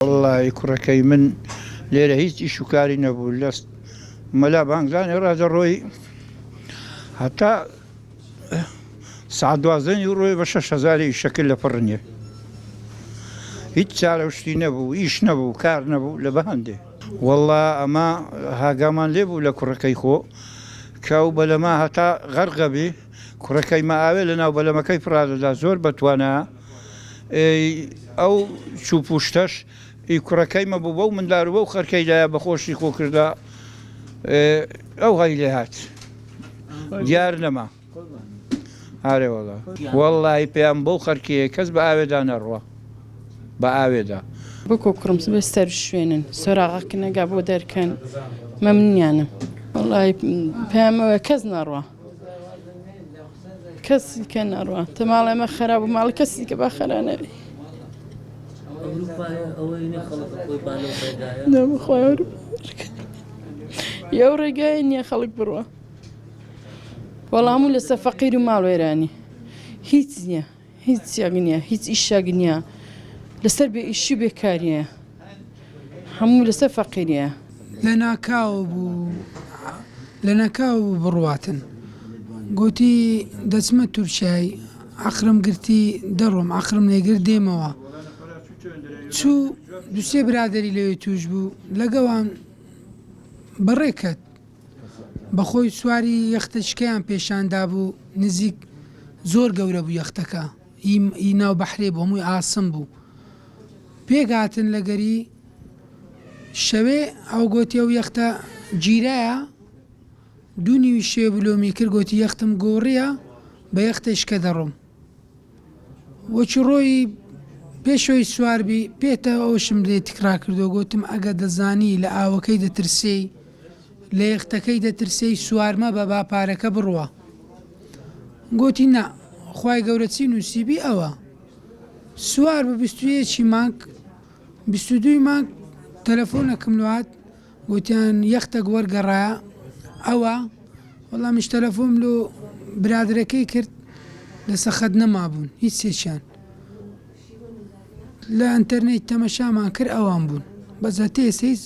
وەڵڵایی کوڕەکەی من لێرە هیچ ئیش و کاری نەبوو لە مەلا بانگدانێ ڕا دەڕۆی هەتا سەعات دوازدە نیوڕۆی بە شەش هەزاری ئیشەکرد لە پڕنیێ هیچ چارە و شتی نەبوو ئیش نەبوو کار نەبوو لە بەهەندێ وەڵڵا ئەمە هاگامان لێ بوو لە کوڕەکەی خۆ کە و بەلەما هەتا غەرقەبی کوڕەکەی مە ئاوێ لە ناو بەلەمەکەی پڕادەدا زۆر بەتوانە ئێ ئەو چوو پووشتەش ئی کوڕەکەی مەبوو بەو مندار و بەو خەرکەی دایە بە خۆشی خۆ کردە ئێ ئەو هەی لێ هات دیار نەما ئارێ وەڵا وەڵڵاهی پێیام بەو خەرکێیە کەس بە ئاوێدا نەڕوا بە ئاوێدا. بکو کوڕم سبەی سەروشوێنن سۆراغە کنەگا بۆ دەرکەن مەمنونیانم وەڵاهی پەیام ئەوەیە کەس نەڕوا. کەسی کە نەڕوا تە ماڵێ مە خەرا بوو ماڵ کەسی کە بە خەرانەوی یو ڕێگای نییە خەڵک بڕوە وەڵام و لەسە فەقیر و ماڵ وێرانی هیچ نییە هیچ یەک نییە هیچ ئیشەک نییە لەسەر بێ ئیشی و بێکاریە هەموو لەسەر فەقیریە. لە ناکاو بوو لە ناکاو بوو بڕواتن گۆتی دەچمە تورکیای عەقرم گرتی دەڕۆم عەقرم نەیگرت دێمەوە چوو دوو سێ برادەری لەوێ تووش بوو لەگەوان بەڕێ کەت. بەخۆی سواری یەختە چکەیان پێشان دابوو نزیک زۆر گەورە بوو یەختەکە ی ناو بەحرێ بوو هەمووی ئاسن بوو پێک هاتن لەگەری شەوێ ئەو گۆتی ئەو یەختە گیرایە دوو نیوی شێ بلۆمی کرد گۆتی یەختم گۆڕیە بە یەختە شکە دەڕۆم وەکی ڕۆیی پێشەوەی سوار بی پێتە ئەوشم لێ تکرا کردو گۆتم ئەگە دەزانی لە ئاوەکەی دەترسێی لە یەختەکەی دەترسێی سوار مەبە با پارەکە بڕوا گۆتی نا خوای گەورە چی نوسیبی ئەوە سوار بە بیست و یەکی مانگ بیست و دووی مانگ تەلەفۆنەکم لۆ هات گۆتیان یەختەک وەرگەڕایە ئەوە، وەڵامیش تەلەفۆم لۆ برادەرەکەی کرد لەسە خەت نەمابوون هیچ یەکیان لە ئەنتەرنێت تەمەشامان کرد ئەوان بوون بەس هەتە ئێستا هیچ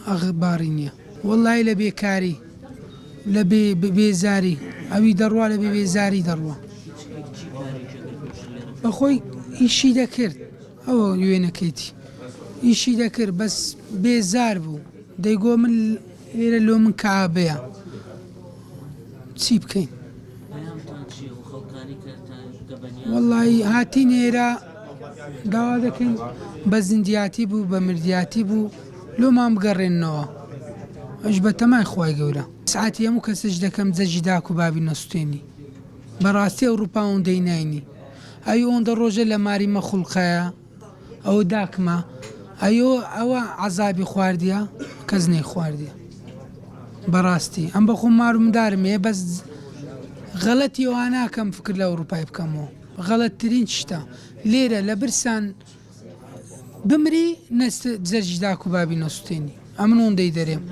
ئەخ باری نیە. وەڵایی لە بێکاری لە بێ بێزاری ئەوی دەڕوا لە بێ بێزاری دەڕوا بەخۆی ئیشی دەکرد. ئەوە وێنەکەیتی ئیشی دەکرد بەس بێزار بوو دەی گۆ من لێرە لۆ من کەعابەیە چی بکەین. وەڵایی هاتین ئێرە داوا دەکەین بە زیندیاتی بوو بە مردیاتی بوو لۆمان بگەڕێننەوە ئەش بە تەمای خوای گەورە سعاتی هەموو کەسش دەکەم جەژی داک و بابی نەسوتێنی بەڕاستی ئەوڕوپا ئەوەندەی ناینی ئەی ئۆندە ڕۆژێ لە ماری مە خوڵقایە ئەوە داکمە ئەیۆ ئەوە عەزابی خواردیە کەس نەی خواردیە بەڕاستی ئەم بەخۆم مارو مندارم هەیە بەس غەڵەتی ئەواناکەم فکر لە ئەوروپای بکەمەوە غەڵەتترین شتە لێرە لە برسان بمری نەست جەرجدا کوبابی نەسوتێنی ئەمن ئۆندەی دەرێم.